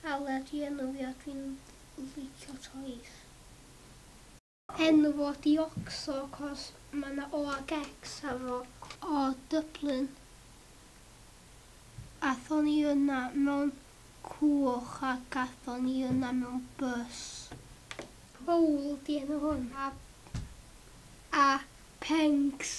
Aled i enw fi a dwi'n licio toys. Enw fo di Oxo cos ma na O ag X ar fo. O Dublin. Athon ni yna mewn cwch a gathon ni yna mewn bws. Paul di enw hwn a a Pengs.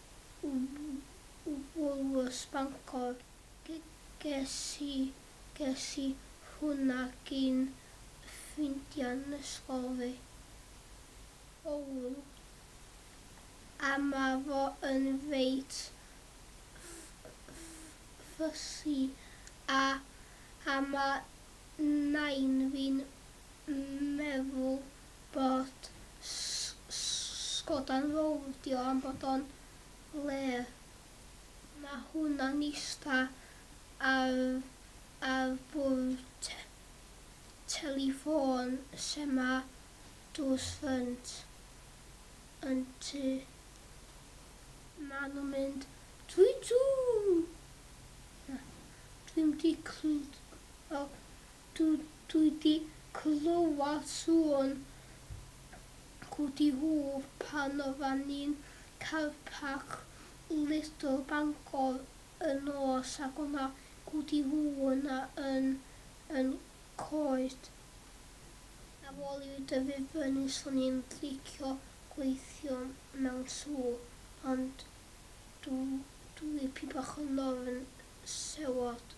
Woolworths Bangor. Ges i hwnna gin ffrindiau'n ysgol fi. Owl, a ma fo yn reit fussy a a ma nain fi'n meddwl bod Sgoda'n fowldio am bod o'n le ma hwnna'n ista ar ar bwrdd telifôn lle ma drws ffrynt yn tŷ ma nhw'n mynd Twitsiw! Na, dwi'm di clwyd o Dw i 'di clywed sŵn Cwdi Hwf pan oddan ni'n Car Parc Little Bangor y nos ac o' 'na Gwdi Hwf yna yn yn coed. Ar ôl i fi dyfu fyny swn i'n licio gweithio mewn sŵ ond dw dw i 'pyn bach yn ofn sewot.